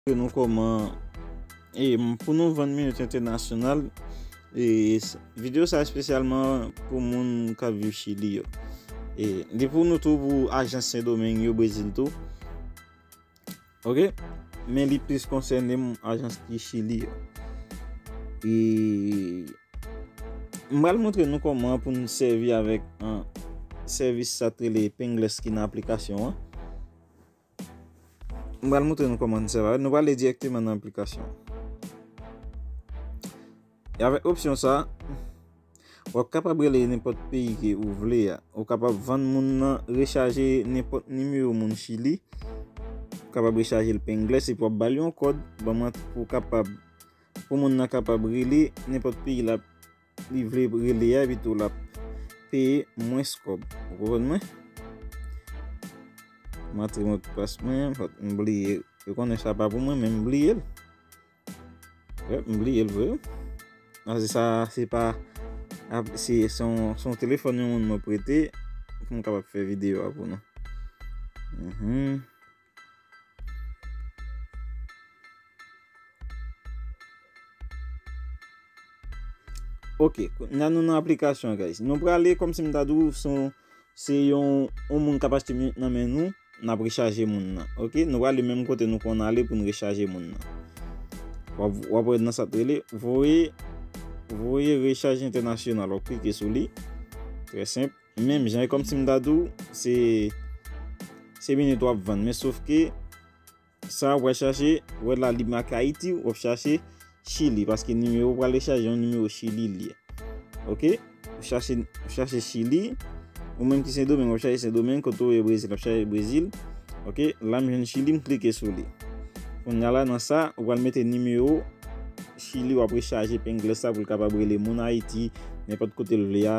Montre nou kòman e pou nou vann minit entènasyonal. E video sa espesyalman pou moun k ap viv Chili yo. E li pou nou tou pou ajan Sendomeng yo, Brezil tou. Ok, men li plis konsène m ajan ki Chili yo. E m pral montre nou kòman pou nou sèvi avèk sèvis sa ki rele Pingles ki nan aplikasyon an. M pral moutre nou kòman nou sèvi avèl. Nou pral ale direkteman nan aplikasyon. E avèk opsyon sa, wap kapab rele nenpòt peyi ke ou vle ya. Ou kapab vann moun nan rechaje nenpòt nimewo moun chili. Ou kapab rechaje l pe englè se pou wap bal yon kòd. Pou moun nan kapab rele nenpòt peyi la. Li vle rele a epi tou lap peye mwens kòb. Ou konprann mwen? M antre mot de passe mwen, m bliye l. Yo konnen sa pa pou mwen men m bliye l. Yep, m bliye l vre. Nan se sa se pa se son telefon yon moun mwen prete pou m kapab fè video a pou nou. Ok, nan nou nan aplikasyon guys. Nou prale kom si m ta dou son se yon on moun kap achte minit nan men nou, n ap rechaje moun nan. Ok, nou prale menm kote nou konn ale pou n rechaje moun nan. W ap wè nan sa te rele, voye, voye rechaje entènasyonal. W ap klike sou li. Trè senp. Menm jan e kòm si m ta di w se se minit w ap vann men sof ke sa w ap chache w wè la li make Ayiti w ap chache Chili paske nimewo w prale chaje yon nimewo Chili li ye ok w chache w chache Chili ou menm ki Sendomeng w ap chache Sendomeng kote w ye Brezil w ap chache Brezil ok la m jwenn Chili m klike sou li kounya la nan sa w pral mete nimewo Chili w ap rechaje pengele sa pou l kapab rele moun Ayiti nenpòt kote l vle a.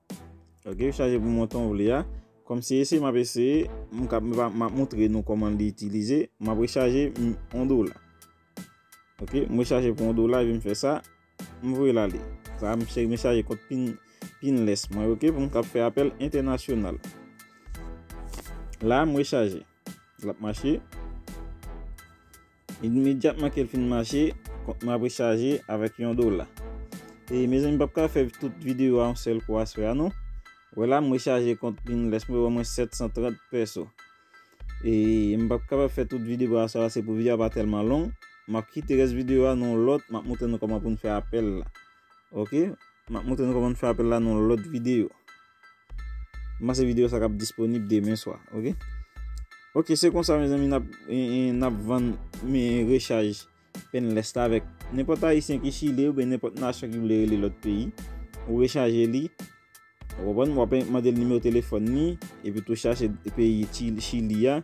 Ok li chaje pou montan ou vle a. Kòm se eseye map eseye. Map montre nou kòman li itilize. Map rechaje 1 dola. Ok m rechaje pou 1 dola epi m fè sa. M voye l ale. Sa m rechaje kont pinless mwen ok pou m kap fè apèl entènasyonal. La m rechaje. Lap mache. Imedyatman kel fin mache, kont mwen ap rechaje avèk yon dola. E mezanmi m pap ka fè tout videyo a yon sèl kou aswè a non. Wè la m rechaje kont Pinless mwen yo ban mwen 730 peso. E m pap kapab fè tout videyo aswè a se pou videyo a pa tèlman long. M ap kite rès videyo a nan yon lòt, m ap montre nou kòman pou n fè apèl la. Ok, m ap montre nou kòman pou n fè apèl la nan yon lòt videyo. M panse video sa kap disponib demen swa ok Ok se konsa mezanmi nap nap vann me rechaj penless la avèk nenpòt ayisyen ki chile oubyen nenpòt nasyon ki vle rele lòt peyi ou rechaje li ou konprann wap mandel nimewo telefòn ni epi tou chache peyi chili a